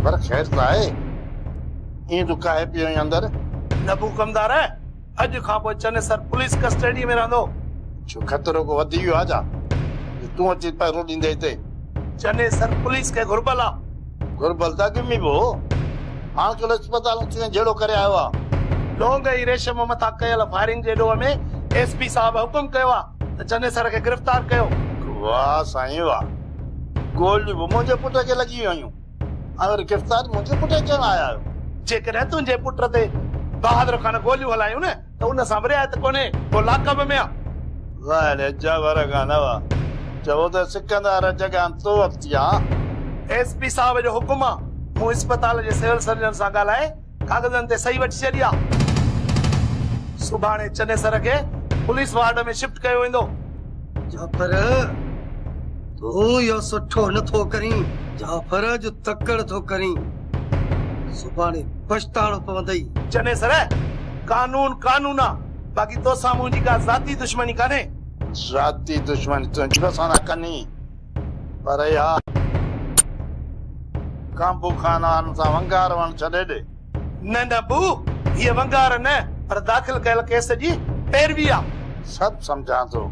اڪبر خير ته آهي؟ ائين ڏڪائي پيو ايئن اندر. نه بوڪمدار، اڄ کان پوء چنيسر پوليس ڪسٽيڊيء ۾ رهندو. ڇو خطرو ڪو وڌي ويو آ ڇا، جو تون اچي پهرو ڏيندين هتي؟ چنيسر پوليس کي گهربل آ. گهر بلداڳي ۾ به هو. هاڻ ڪل اسپتال اچي ۽ جهيڙو ڪري آيو آ. لونگ ۽ ريشم مٿان ڪيل فائرنگ جي ڏوهه ۾ ايس پي صاحب حڪم ڪيو آ ته چنيسر کي گرفتار ڪيو. واهه سائين واهه. گوليون به منهنجي پٽ کي لڳي ويون هيون ۽ وري گرفتار منهنجي پٽ کي ڪرڻ آيا آهيو. جيڪڏهن تنهنجي پٽ تي بهادر خان گوليون هلايون نه ته ان سان به رعايت ڪونهي، ڪو لاڪ به ميان. ظاهر اجهه ور کان نه وئا. چئو ته سڪندار جڳان تو اپتيان. ايس پي صاحب جو حڪم آ. مون اسپتال جي سول سرجن سان ڳالهائي ڪاغذن تي صحيح وٺي ڇڏي آ. سڀاڻي چنيسر کي پوليس وارڊ ۾ شفٽ ڪيو ويندو. جعفر! تون اهو سٺو نه ٿو ڪرين. جعفر اڄ تڪڙ ٿو ڪرين. سڀاڻي پڇتاڻو پوندئي. چني سر، قانون قانون آ، باقي توسان منهنجي ڪا ذاتي دشمني ڪانهي. ذاتي دشمني تنهنجي به اسان سان ڪني، پر اها ڪانبو خانان سان ونگار وڻ ڇڏي ڏي. نه نه بو، هيء ونگار نه، پر داخل ڪيل ڪيس جي پيروي آ. سڀ سمجهان ٿو.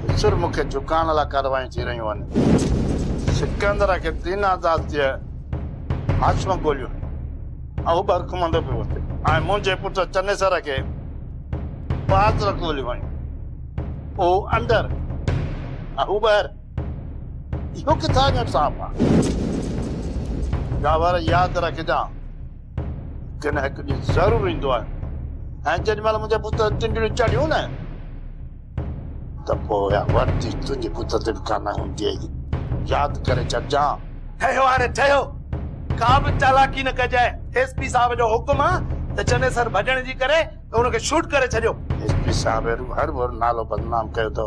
مصر مون کي جهڪائڻ لاء ڪارروايون ٿي رهيون آهن. سڪندر کي تين آزاد ٿئي هاشم ڳوليون اهو به هرکمندو پيو اٿي ۽ منهنجي پٽ چنيسر کي بهادر ڳوليون ويون اهو اندر اهو ٻاهر اهو ڪٿان جو انصاف آهي. جاور ياد رکجان. ڪنھن نه ھڪ ڏينھن ضرور ايندو آھي ۽ جيڏي مھل منھنجا پٽ تنڊڙيون چڙھيون نه ته پوء اھا وردي تنھنجي پٽ تي به ڪانه ھوندي اھي ياد ڪري ڇڏجان. ٺھيو ھاڻي ٺھيو ڪا به چالاڪي نه ڪجانء ايس پي صاحب جو حڪم آ ته چنيسر ڀڄڻ جي ڪري ته ان کي شوٽ ڪري ڇڏيو. ايس پي صاحب اهڙو هر ڀر نالو بدنام ڪيو اٿو.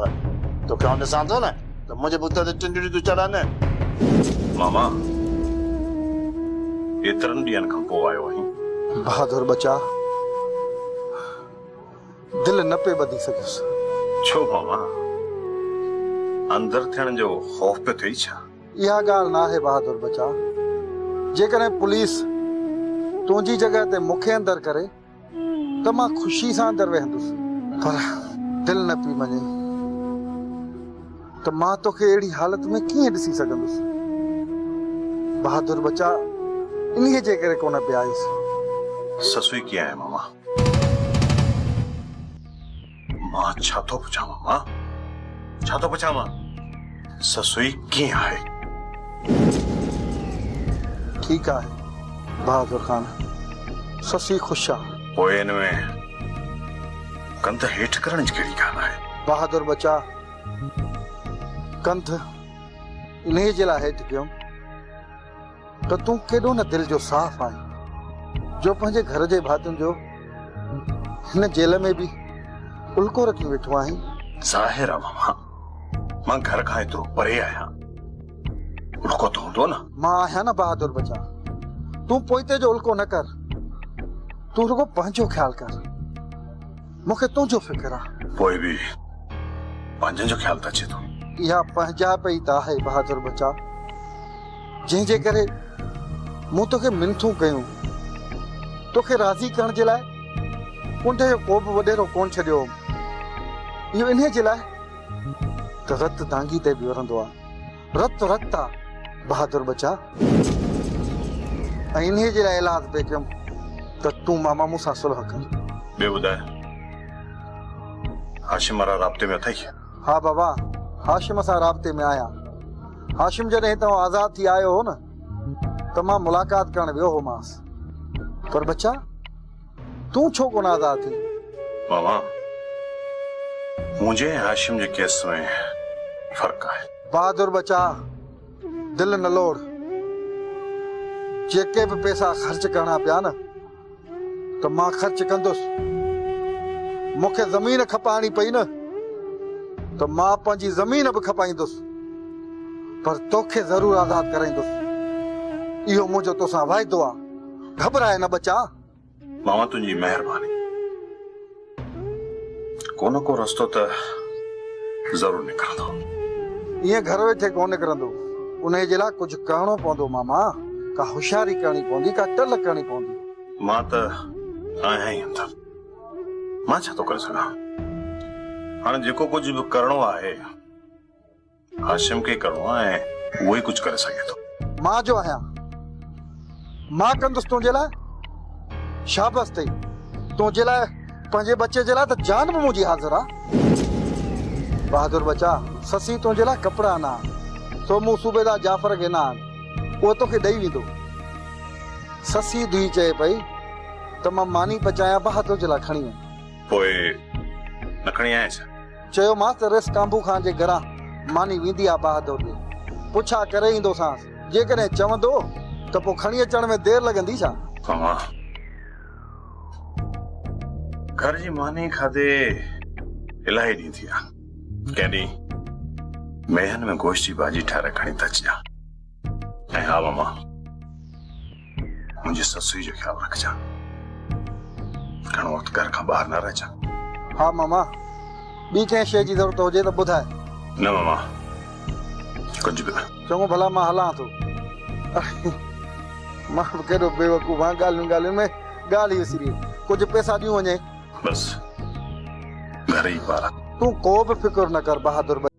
توکي آئون ڏسان ٿو نه ته منهنجي بت تي ٽنڊڙي ٿو چڙهن. ماما ايترن ڏينهن کان پوء آيو آهين. بهادر ٻچا دل نه پئي ٻڌي سگهيس. ڇو ماما اندر ٿيڻ جو خوف پيو ٿئي ڇا؟ اها ڳالهه نه آهي بهادر ٻچا جيڪڏهن پوليس تنهنجي جڳهه تي مونکي اندر ڪري. ته مان خوشي سان اندر ويهندس. پر دل نه پئي مڃي ته مان توکي اهڙي حالت ۾ ڪيئن ڏسي سگهندس. بهادر ٻچا انهيء جي ڪري ڪونه پيا آيس. سسئي ڪيئن آهي ماما؟ مان ڇا ٿو پڇانء مان ڇا ٿو پڇانء سسئي ڪيئن آهي؟ ٺيڪ آهي بهادر خان سسئي خوش آ. پوء ان ۾ ڪنڌ هيٺ ڪرڻ جي ڪهڙي ڳالهه آهي؟ بهادر ٻچا ڪنڌ انهيء جي لاء هيٺ ڪيم. ته تون ڪيڏو نه دل جو صاف آهين جو پنهنجي گهر جي ڀاتين جو هن جيل ۾ به الڪو رکي ويٺو آهين. ظاهر آ ماما مان گهر کان ايترو پري آهيان الڪو ته هوندو نه. مان آهيان نه بهادر ٻچا تون پوئتي جو الڪو نه ڪر تون رڳو پنهنجو خيال ڪر مون کي تنهنجو فڪر آ. پوء به پنهنجن جو خيال ته اچي ٿو. اها پنهنجائپ ئي ته آهي بهادر ٻچا. جنهن جي ڪري مون توکي منٿون ڪيون. توکي راضي ڪرڻ جي لاء ڪنڊ جو ڪوبه وڏيرو ڪونه ڇڏيو هوم. اهو انهيء جي لاء ته رت دانگي تي به ورندو آ. رت رت آ بهادر ٻچا. ۽ انهيء جي لاء ايلاز به ڪيم ته تون ماما مون سان صلح ڪر. ٻيو ٻڌاء هاشم وارا رابطي ۾ اٿئي؟ ها بابا، هاشم سان رابطي ۾ آهيان. هاشم جڏهن تون آزاد ٿي آيو هو نه ته مان ملاقات ڪرڻ ويو هومانس. پر ٻچا، تون ڇو ڪونه آزاد ٿين؟ ماما، منهنجي ۽ هاشم جي ڪيس ۾ فرق آهي. بهادر ٻچا، دل نه لوڙ. جيڪي به پئسا خرچ ڪرڻا پيا نه. ته مان خرچ ڪندس. مون کي زمين کپائڻي پئي نه ته مان پنهنجي زمين به کپائيندس، پر توکي ضرور آزاد ڪرائيندس. اهو منهنجو توسان وعدو آ. گهٻرائي نه ٻچا! بابا تنهنجي مهرباني. ڪو نه ڪو رستو ته ضرور نڪرندو. ائين گهر ويٺي ڪونه نڪرندو. انهيء جي لاء ڪجهه ڪرڻو پوندو ماما. ڪا هوشياري ڪرڻي پوندي، ڪا ٽل ڪرڻي پوندي. مان ته آهيان ئي اندر. مان ڇا ٿو ڪري سگهان. هاڻي جيڪو ڪجهه به ڪرڻو آهي. هاشم کي ئي ڪرڻو آهي ۽ اهو ئي ڪجهه ڪري سگهي ٿو. مان جو آهيان مان ڪندس تنهنجي لاء شابس اٿئي تنهنجي لاء پنهنجي ٻچي جي لاء ته جان به منهنجي حاضر آ بهادر ٻچا سسي تنهنجي لاء ڪپڙا آنا آهن سو مون صوبيدار جعفر کي ڏنا آهن اهو توکي ڏئي ويندو سسي ڌيء چئي پئي ته مان ماني پچايان بهادر جي لاء کڻي آئين. پوء نه کڻي آئين ڇا؟ چيومانس ته ريس ڪانڀو خان جي گهران ماني ويندي آ بهادر ڏي پڇا ڪري ايندوسانس، جيڪڏهن چوندو ته پوء کڻي اچڻ ۾ دير لڳندي ڇا؟ اوهان گهر جي ماني کاڌي الاهي ڏينهن ٿي ويا، ڪنهن ڏينهن ميهن ۾ گوشت جي ڀاڄي ٺاهرائي کڻي ٿا اچجان ۽ ها ماما! منهنجي سسئي جو خيال رکجان. گهڻو وقت گهر کان ٻاهر نه رهجان. ها ماما، ٻي ڪنهن شيء جي ضرورت هجي ته ٻڌاء. نه ماما، ڪجهه به نه. چڱو ڀلا مان هلان ٿو. اڙي، مان به ڪيڏو بيوقوف آهيان، ڳالهيون ڳالهيون ۾ ڳالهه ئي وسري ويم. ڪجهه پئسا ڏيون وڃين. بس، گهر ئي پاران. تون ڪو به فڪر نه ڪر بهادر ٻچا.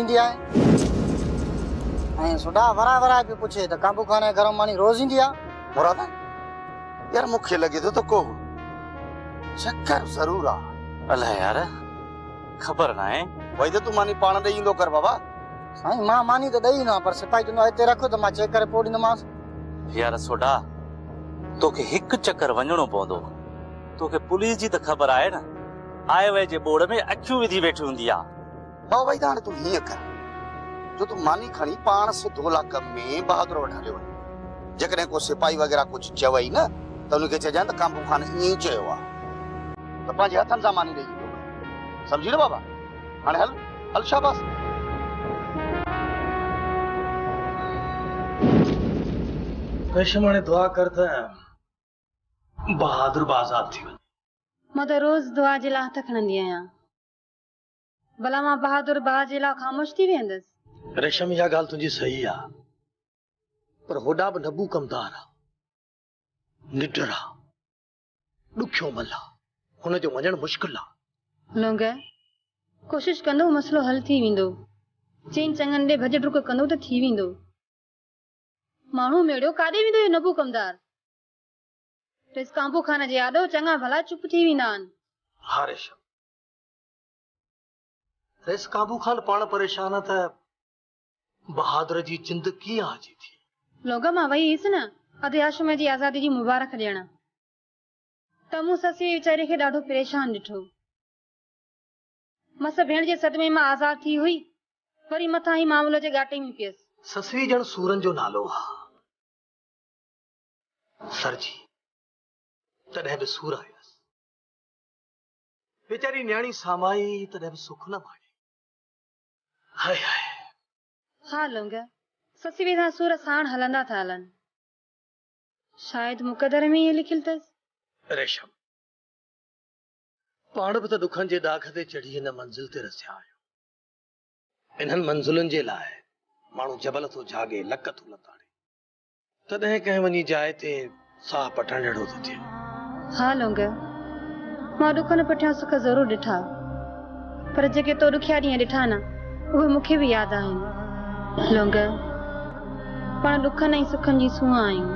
ايندي آهي ۽ سوڍا ورائي ورائي پيو پڇي ته ڪانبو خان ۽ گرم ماني روز ايندي آهي؟ مرادا، يار مون کي لڳي ٿو ته ڪو چڪر ضرور آهي. الائي يار، خبر ناهي. وئي ته تون ماني پاڻ ڏئي ايندو ڪر بابا. سائين مان ماني ته ڏئي ايندو آهيان پر سپاهي چوندو آهي هتي رک ته مان چيڪ ڪري پوء ڏيندومانس. يار سوڍا، توکي هڪ چڪر وڃڻو پوندو. توکي پوليس جي ته خبر آهي نه، آء ويء جي ٻوڙ ۾ اکيون وڌي ويٺي هوندي آهي. واهه وحيده هاڻي تون هيئن ڪر جو تون ماني کڻي پاڻ سڌو لاڪ ۾ بهادر وٽ هليو وڃ. جيڪڏهن ڪو سپاهي وغيره ڪجهه چوئي نه ته ان کي چئجانء ته ڪانبو خان ائين ئي چيو آهي. ته پنهنجي هٿن سان ماني ڏيئي ايندو ڪر. سمجهي نه بابا؟ هاڻي هل، هل شاباس. ريشم هاڻي دعا ڪر ته بهادر به آزاد ٿي وڃي. مان ته روز دعا جي لاء هٿ کڻندي آهيان. ڀلا مان بهادر ڀاء جي لا خاموش ٿي ويهندس. ريشم اها ڳالهه تنهنجي صحيح آ پر هوڏا به نبو ڪمدار آ نڊر آ ڏکيو مل آ هن جو مڃڻ مشڪل آ. لونگي، ڪوشش ڪندو مسئلو حل ٿي ويندو. چئن چڱن ڏي ڀڄ ڊڪ ڪندو ته ٿي ويندو. ماڻهو ميڙيو ڪاڏي ويندو اهو نبو ڪمدار. ريس ڪانبو خان جي آڏو چڱا ڀلا چپ ٿي ويندا آن. ها ريشم رئيس قابو خان پاڻ پريشان آ ته بهادر جي جند ڪيئن آجي ٿي. لوگا مان وئي هيس نه اڌ ياشمي جي آزادي جي مبارڪ ڏيڻ ته مون سسئي ويچاري کي ڏاڍو پريشان ڏٺو. مس ڀيڻ جي صدمي مان آزاد ٿي هئي وري مٿان هي معاملو جي ڳاٽي ۾ پيس. سسئي ڄڻ سورن جو نالو آ. سر جي تڏهن به سور آيس. ويچاري نياڻي سامائي تڏهن به سک نه ماڻي. هاء هاء. ها لونگيا، سسي وي سان سور ساڻ هلندا ٿا هلن. شايد مقدر ۾ ائين لکيل اٿس. ريشم، پاڻ به ته ڏکن جي ڏاڪ تي چڙهي هن منزل تي رسيا آهيون. انهن منزلن جي لاء ماڻهو جبل ٿو جهاڳي، لڪ ٿو لتاڙي. تڏهن ڪنهن وڃي جاء تي ساهه پٽڻ جهڙو ٿو ٿئي. ها لونگيو، مان ڏکن پٺيان سک ضرور ڏٺا، پر جيڪي تو ڏکيا ڏينهن ڏٺا نه، اهي مون کي به ياد آهن. لونگيو، پاڻ ڏکن ۽ سکن جي سونهن آهيون،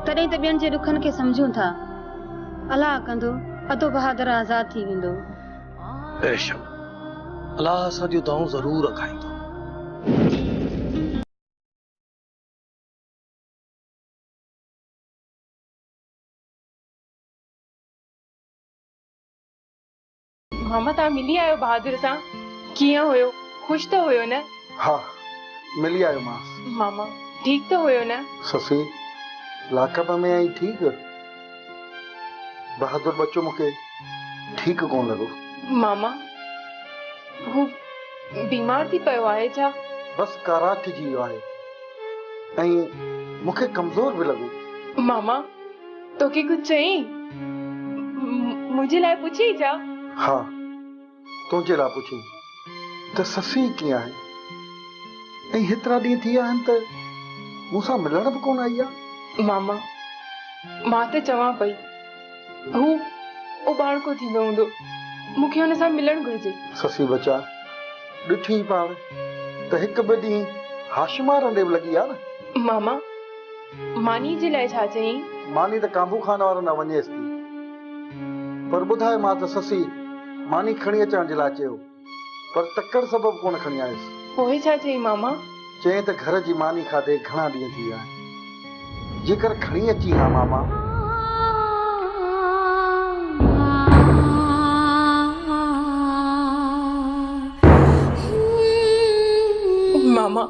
تڏهن ته ٻين جي ڏکن کي سمجهون ٿا. الاهه ڪندو، ادو بهادر آزاد ٿي ويندو. ريشم، الاهه اسان جون دانهون ضرور اکائيندو. ماما توهان ملي آيو بهادر سان ڪيئن هيو خوش ته هيو نه. ها ملي آيو مانس. ماما ٺيڪ ته هيو نه. سسي لاکپ ۾ آهين ٺيڪ. بهادر ٻچو مون کي ٺيڪ ڪونه لڳو. ماما هو بيمار ٿي پيو آهي ڇا؟ بس ڪاراڪ جي ويو آهي ۽ مون کي ڪمزور به لڳو. ماما توکي ڪجهه چئين؟ منهنجي لاء پڇين ڇا؟ ها. تنهنجي لاء پڇون ته سسئي ڪيئن آهي ۽ هيترا ڏينهن ٿي ويا آهن ته مون سان ملڻ به ڪونه آئي آهي. ماما، مان ته چوان پئي هو اوٻاڻڪو ٿيندو هوندو، مون کي هن سان ملڻ گهرجي. سسئي ٻچا، ڏٺيئي پاڻ ته هڪ ٻه ڏينهن هاشمار ڏي به لڳي آ نه. ماما، ماني جي لاء ڇا چئين؟ ماني ته ڪانڀو خان وارن ڏانهن وڃيس ٿي. پر ٻڌاء مان ته سسي ماني کڻي اچڻ جي لاء چيو، پر تڪڙ سبب ڪونه کڻي آيس. پوء ڇا چئين ماما؟ چئين ته گهر جي ماني کاڌي گهڻا ڏينهن ٿي ويا آهن. جيڪر کڻي اچين ها ماما. ماما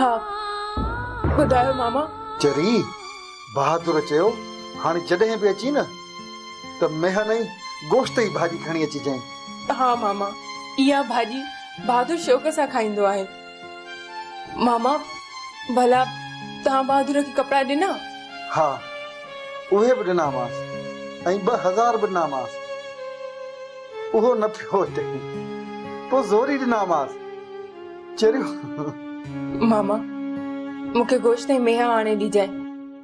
ها ٻڌايو ماما. چري بهادر چيو، هاڻي جڏهن به اچين نه ته ميهن ۽ گوشت ئي ڀاڄي کڻي اچجانء. ها ماما، اها ڀاڄي بهادر شوق سان کائيندو آهي. ماما ڀلا توهان بهادر کي ڪپڙا ڏنا؟ ها اهي به ڏنامانس ۽ ٻه هزار به ڏنامانس. اهو نه ٿيو هتي پوء زوري ڏنامانس چريون. ماما مون کي گوشت ۽ ميها آڻي ڏجانء.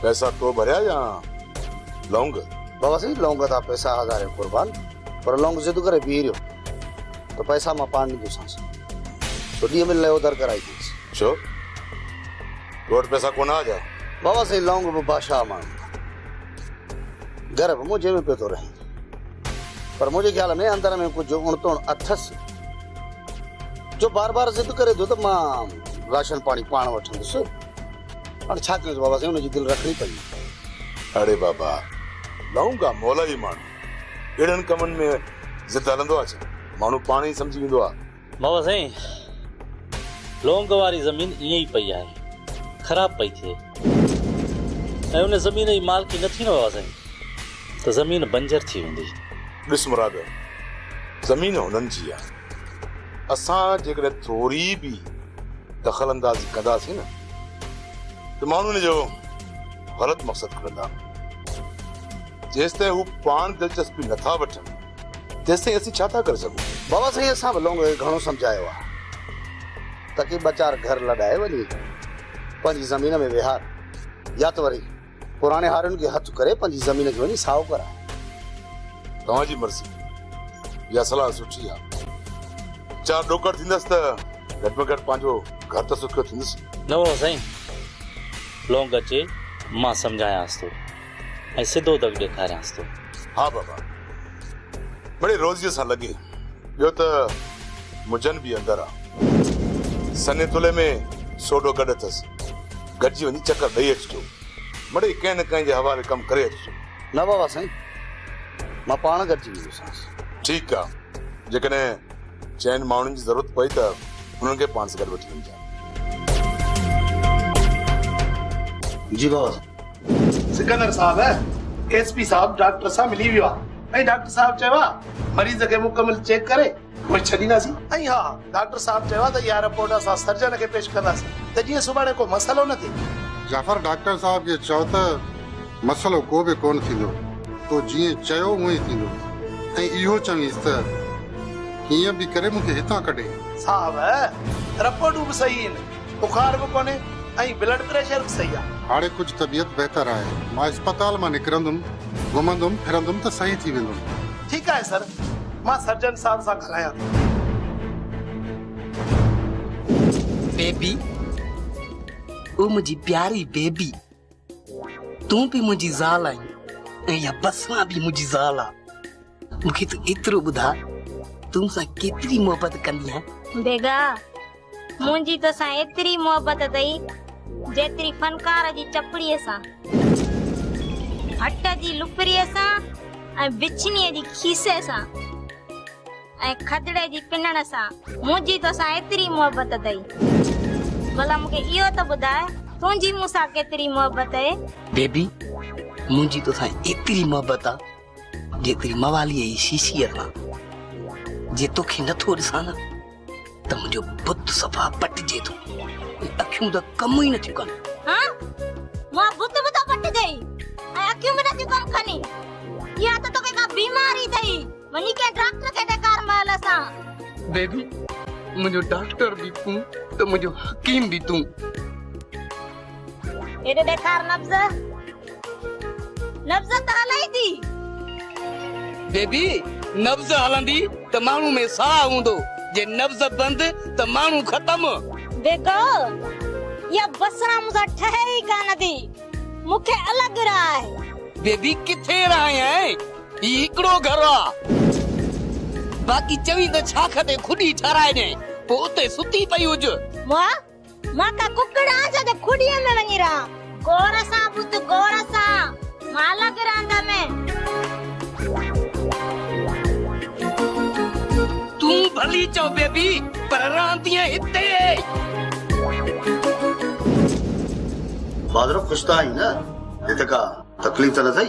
پئسا تو ڀريا يا لونگ؟ بابا سائين لونگ ٿا پئسا هزارين قربان پر لونگ ضد ڪري بيهي رهيو ته پئسا مان پاڻ ڏيندوسانس سو ڏينهن ۾ ليو در ڪرائي ڏينس. ڇو تو وٽ پئسا ڪونه آ ڇا؟ بابا سائين لونگ به بادشاهه ماڻهو ٿا گهر به منهنجي ۾ پيو ٿو رهين پر منهنجي خيال ۾ اندر ۾ ڪجهه اڻ تڻ اٿس جو بار بار ضد ڪري ٿو ته مان راشن پاڻي پاڻ وٺندس. هاڻي ڇا ڪيون ته بابا سائين ان جي دل رکڻي پئي. اڙي بابا لونگا مولائي ماڻهو اهڙن ڪمن ۾ ضد هلندو آ ڇا ماڻهو پاڻ ئي سمجهي ويندو آ. بابا سائين لونگ واري زمين ائين ئي پئي آهي خراب پئي ٿئي ۽ ان زمين جي مالڪي نه ٿي نه بابا سائين ته زمين بنجر ٿي ويندي. ڏس مراد زمين هنن جي آ. اسان جيڪڏهن ٿوري به دخل اندازي ڪنداسين نه ته ماڻهو ان جو غلط مقصد کڻندا. جيستائين هو پاڻ دلچسپي نٿا وٺن تيستائين اسين ڇا ٿا ڪري سگهون؟ بابا سائين اسان به لونگڙي کي گهڻو سمجهايو آهي ته ڪي ٻه چار گهر لڏائي وڃي پنهنجي زمين ۾ ويهار يا ته وري پراڻي هارين کي هٿ ڪري پنهنجي زمين کي وڃي سائو ڪراء. توهان جي مرضي. اها صلاح سٺي آ. چار ڏوڪڙ ٿيندس ته گهٽ ۾ گهٽ پنهنجو گهر ته سکيو ٿيندس. نوحو سائين لونگ اچي مان سمجهايانس ٿو ۽ سڌو دڳ ڏيکاريانس ٿو. ها بابا مڙي روزيء سان لڳين. ٻيو ته مجن به اندر آ. سني تلي ۾ سوڍو گڏ اٿس. گڏجي وڃي چڪر ڏئي اچجو. مڙئي ڪنهن نه ڪنهن جي حوالي ڪم ڪري اچجو. نه بابا سائين، مان پاڻ گڏجي ويندوسانس. ٺيڪ آ، جيڪڏهن چئن ماڻهن جي ضرورت پئي ته انهن کي پاڻ سان گڏ وٺي وڃجان. جي بابا سائين. سڪندر صاحب ايس پي صاحب ڊاڪٽر سان ملي ويو آ ۽ ڊاڪٽر صاحب چيو آ مريض کي مڪمل چيڪ ڪري اهي ڇڏينداسين ۽ ها ڊاڪٽر صاحب چيو آهي ته اها رپورٽ اسان سرجن کي پيش ڪنداسين ته جيئن سڀاڻي ڪو مسئلو نه ٿئي. جعفر ڊاڪٽر صاحب کي چئو ته مسئلو ڪو به ڪونه ٿيندو، تو جيئن چيو اهو ئي ٿيندو ۽ اهو چوينس ته ڪيئن به ڪري مون کي هتان ڪڍي. صاحب رپورٽون به صحيح هين. بخار به ڪونهي ۽ بلڊ پريشر به صحيح آهي. هاڻي ڪجهه طبيعت بهتر آهي. مان اسپتال مان نڪرندم، گهمندم ڦرندم ته صحيح ٿي ويندم. ٺيڪ آهي سر، مان سرجن صاحب سان ڳالهايان ٿو. بيبي، او منهنجي پياري بيبي. تون به منهنجي زال آهين ۽ اها بسما به منهنجي زال آ. مون کي تون ايترو ٻڌاء تون مون سان ڪيتري محبت ڪندي آهين؟ بيگا، منهنجي تو سان ايتري محبت اٿئي جيتري فنڪار جي چپڙي سان، ڀٽ جي لپري سان ۽ بڇني جي کيسي سان. ۽ کدڙي جي پنڻ سان منهنجي توسان ايتري محبت اٿئي. ڀلا مون کي اهو ته ٻڌاء تنهنجي مون سان ڪيتري محبت اهي؟ بيبي، منهنجي توسان ايتري محبت آ جيتري مواليء جي شيشيء سان. جي توکي نه ٿو ڏسان نه ته منهنجو بت صفا پٽجي ٿو ۽ اکيون ته ڪم ئي نه ٿيون ڪن. ها؟ منهنجو بت به ٿو پٽجئي ۽ اکيون به نه ٿيون ڪم ڪني؟ اها ته توکي ڪا بيماري اٿئي. وڃي ڪنهن ڊاڪٽر کي ڏيکار مئل سان. بيبي منهنجو ڊاڪٽر به تون ته منهنجو حڪيم به تون. هيڏي ڏيکار نبض نبض ته هلئي ٿي. بيبي نبض هلندي ته ماڻهو ۾ ساهه هوندو جي نبض بند ته ماڻهو ختم. بيگو اها بسران مون سان ٺهي ئي ڪانه ٿي مون کي الڳ راهه آهي. بيبي ڪٿي راهه آهي. هي هڪڙو گهر آ باقي چوين ته ڇاک تي کڏي ٺهرائي ڏئين پوء اتي ستي پئي هج. مان مان ڪا ڪڪڙ آهيان ڇا جو کڏيء ۾ وڃي رهان. غور سان ٻڌ غور سان مالڪ رهندم ۾. تون ڀلي چئو بيبي پر رهندينء هتي. بادرو خوش ته آهين نه هت ڪا تڪليف ته نه ٿئي.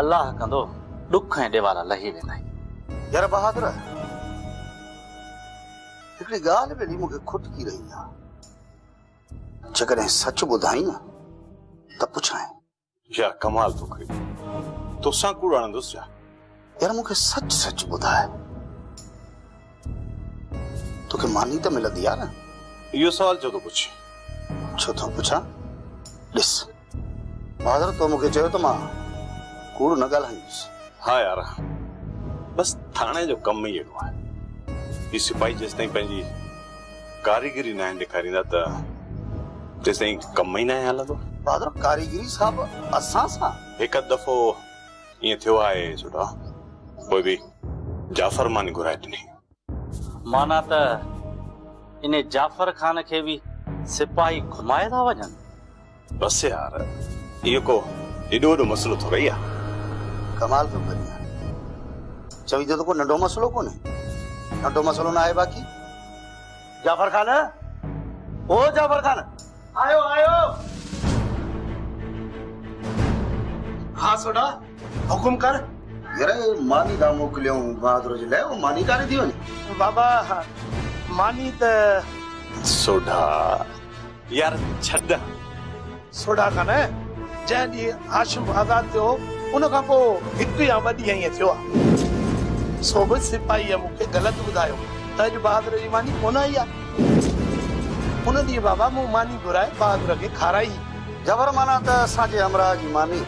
الله ڪندو، ڏک ۽ ڏيوارا لهي ويندائين. يار بهادر! هڪڙي ڳالهه ڀيڙي مون کي کٽڪي رهي آ. جيڪڏهن سچ ٻڌائين نه ته پڇانء. يار ڪمال ٿو ڪرين. توسان ڪوڙ هڻندس ڇا؟ يار مون کي سچ سچ ٻڌاء توکي ماني ته ملندي آ نه؟ اهو سوال ڇو ٿو پڇين؟ ڇو ٿو پڇان؟ ڏس بهادر تو مون کي چيو ته مان ڪوڙ نه ڳالهائيندس. ها يار بس ٿاڻي جو ڪم ئي اهڙو آهي. هي سپاهي جيستائين پنهنجي ڪاريگري ناهن ڏيکاريندا ته تيستائين ڪم ئي ناهي هلندو. بهادر ڪاريگري صاحب اسان سان؟ هڪ اڌ دفعو ائين ٿيو آهي سوڍا. پوء به جعفر ماني گهرائي ڏني. معنيٰ ته انهي جعفر خان کي به سپاهي گهمائي ٿا وڃن؟ بس يار، اهو ڪو ايڏو وڏو مسئلو ٿورئي آهي. ڪمال پيو ڪرين يار. چوين ٿو ته ڪو ننڍو مسئلو ڪونهي. ننڍو مسئلو نه آهي باقي. جعفر خان، او جعفر خان! آيو آيو. ها سوڍا حڪم ڪر. يره ماني ڏانهن موڪليائون بهادر جي لاء اهو ماني ڪاري ٿي وڃي. بابا ماني ته. سوڍا يار ڇڏ. سوڍا کان جنهن ڏينهن هاشم آزاد ٿيو ان کان پوء هڪ يا ٻه ڏينهن ائين ٿيو آهي سو به سپاهيء مون کي غلط ٻڌايو ته اڄ بهادر جي ماني ڪونه آئي آهي. ان ڏينهن بابا مون ماني گهرائي بهادر کي کارائي. جبر معنيٰ ته اسان جي همراهه جي ماني.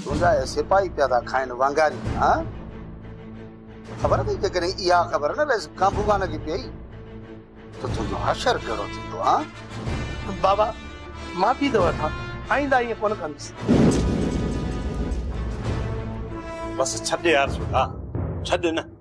تنهنجا اهي سپاهي پيا ٿا کائن وانگاري هان. خبر اٿئي جيڪڏهن اها خبر نه رئيس ڪانڀوغان کي پيئي ته تنهنجو حشر ڪهڙو ٿيندو هان. بابا معافي ٿو وٺان آئنده ائين ڪونه ڪندس. بس ڇڏ يار سوڍا ڇڏ نه.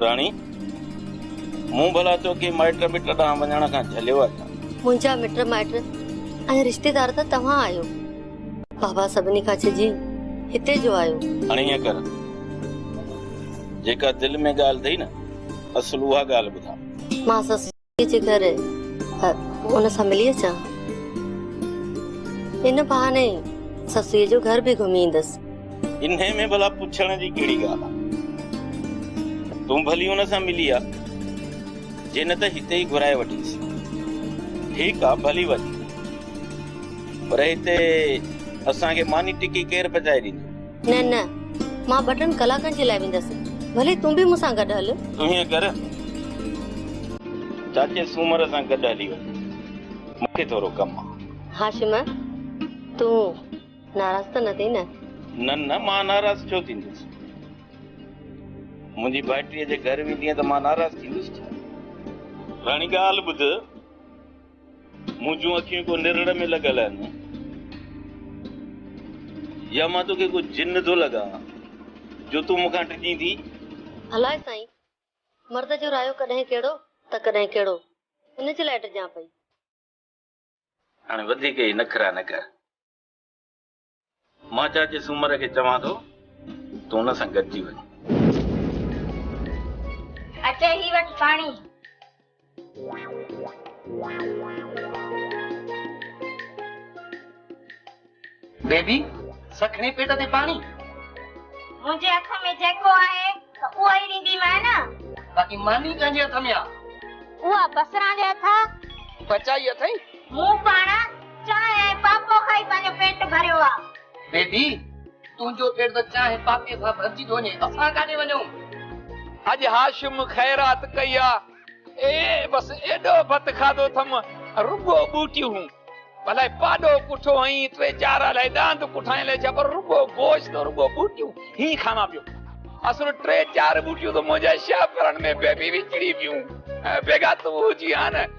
راڻي، مون ڀلا تو کي مائٽ مٽ ڏانهن وڃڻ کان جهليو آهي ڇا؟ منهنجا مٽ مائٽ ۽ رشتيدار ته توهان آهيو. بابا سڀني کان ڇڄي هتي جو آيو. هاڻي ائين ڪر، جيڪا دل ۾ ڳالهه اٿئي نه، اصل اها ڳالهه ٻڌاء. مان سس. جي گهر ان سان ملي اچان ان بهاني سسئي جو گهر به گهمي ايندس. انهي ۾ ڀلا پڇڻ جي ڪهڙي ڳالهه آ تون ڀلي ان سان ملي آ جي نه ته هتي ئي گهرائي وٺيس. ٺيڪ آ ڀلي وڃ پر هتي اسان کي ماني ٽڪي ڪير پچائي ڏيندو. نه نه مان ٻه ٽن ڪلاڪن جي لاء ويندس ڀلي تون به مون سان گڏ هل. تون هيئن ڪر چاچي سومر سان گڏ هلي وڃ مون کي ٿورو ڪم آ. هاشم تون ناراض ته نه ٿي نه. نه نه مان ناراض ڇو ٿيندس منهنجي ڀائٽيء جي گهر ويندينء ته مان ناراض ٿيندس ڇا. راڻي ڳالهه ٻڌ. منهنجون اکيون ڪو نرڙ ۾ لڳل آهن يا مان توکي ڪو جن ٿو لڳان جو تون مون کان ڊڄين ٿي؟ الاء سائين! مرد جو رايو ڪڏهن ڪهڙو ته ڪڏهن ڪهڙو، ان جي لاء ڊڄان پئي. هاڻي وڌيڪ هي نخرا نه ڪر. مان چاچي سومر کي چوان ٿو ته هن سان گڏجي وڃ. اچي هي وٺ پاڻي. بيبي سکڻي پيٽ تي پاڻي. منهنجي هٿ ۾ جيڪو آهي ته اهو ئي ڏينديمانء نه. باقي ماني تنهنجي هٿ ۾ آ. اها بصران جي هٿ آ. پچائي اٿئي. مون پاڻ چانهه ۽ پاپو کائي پنهنجو پيٽ ڀريو آ. بيبي تنهنجو پيٽ ته چانهه پاپي سان ڀرجي ٿو وڃي اسان ڪاڏي وڃون. اڄ هاشم خيرات ڪئي آ. اي بس ايڏو ڀت کاڌو ٿم رڳو ٻوٽيون الائي پاڏو ڪٺو هئين ٽي چار الائي ڏاند ڪٺائين الائي ڇا پر رڳو گوشت رڳو ٻوٽيون هي کاوان پيو اصل ٽي چار ٻوٽيون ته منهنجا شاهپرن ۾ بيبي وچڙي پيون بيگا تون هجي ها نه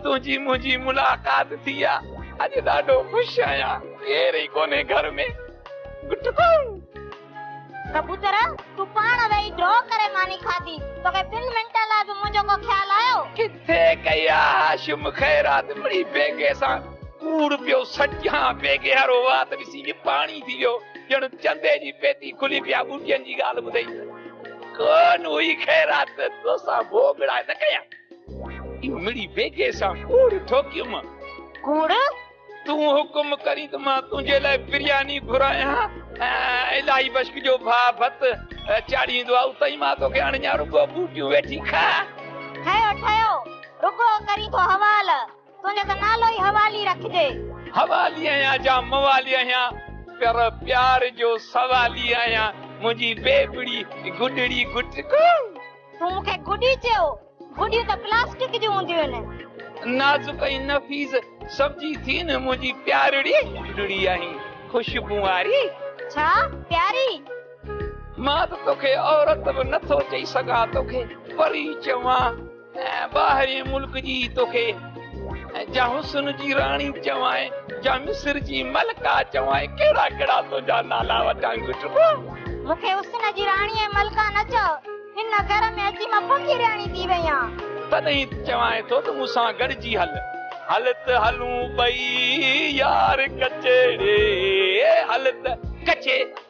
تنهنجي منهنجي ملاقات ٿي آ اڄ ڏاڍو خوش آهيان ڪير ئي ڪونهي گهر ۾ گٽ ڪون. ڪبوتر تون پاڻ ويهي ڊرا ڪري ماني کاڌي توکي ٻن منٽن لاء به منهنجو ڪو خيال آيو. ڪٿي ڪئي آ هاشم خيرات مڙئي بيگي سان ڪوڙ پيو سٽيان بيگي وارو وات ڏسي به پاڻي ٿي ويو ڄڻ چندي جي پيتي کلي پيا ٻوٽين جي ڳالهه ٻڌئي ڪون هئي خيرات توسان ڀوڳڙا نه ڪيا. امڙي بيگهي سان ڪوڙ ٺوڪيم. ڪوڙ؟ تون حڪم ڪرين ته مان تنهنجي لاء برياني گهرايان ۽ الاهي بشڪ جو ڀاء ڀت چاڙهيندو آ اتان ئي مان توکي اڻڃان رڳو ٻوٽيون ويٺي کاء. ٺهيو ٺهيو، رڳو ڪرين ٿو حوال، تنهنجو ته نالو ئي حوالي رکجي. حوالي آهيان جا موالي آهيان، پر پيار جو سوالي آهيان، منهنجي بيبڙي گڊڙي گٽڪو. هو مون کي گڏي چيو، گڏيون ته پلاسٽڪ جون هونديون آهن. نازڪ ۽ نفيس سمجهي ٿي نه منهنجي پيارڙي. پيارڙي آهين خوشبون واري. ڇا پياري؟ مان ته توکي عورت به نٿو چئي سگهان توکي پري چوان ۽ ٻاهرين ملڪ جي توکي. ۽ جا حسن جي راڻي چوانء، جا مصر جي ملڪه چوانء، ڪهڙا ڪهڙا تنهنجا نالا وٺان گهٽبا؟ مون کي حسن جي راڻي ۽ ملڪه نه چئو، هن گهر ۾ اچي مان پڪي رهاڻي ٿي وئي آهيان. تڏهن ته چوانء ٿو ته مون سان گڏجي هل. هل ته هلون ٻئي يار ڪچهري، هل ته. ڪچهري.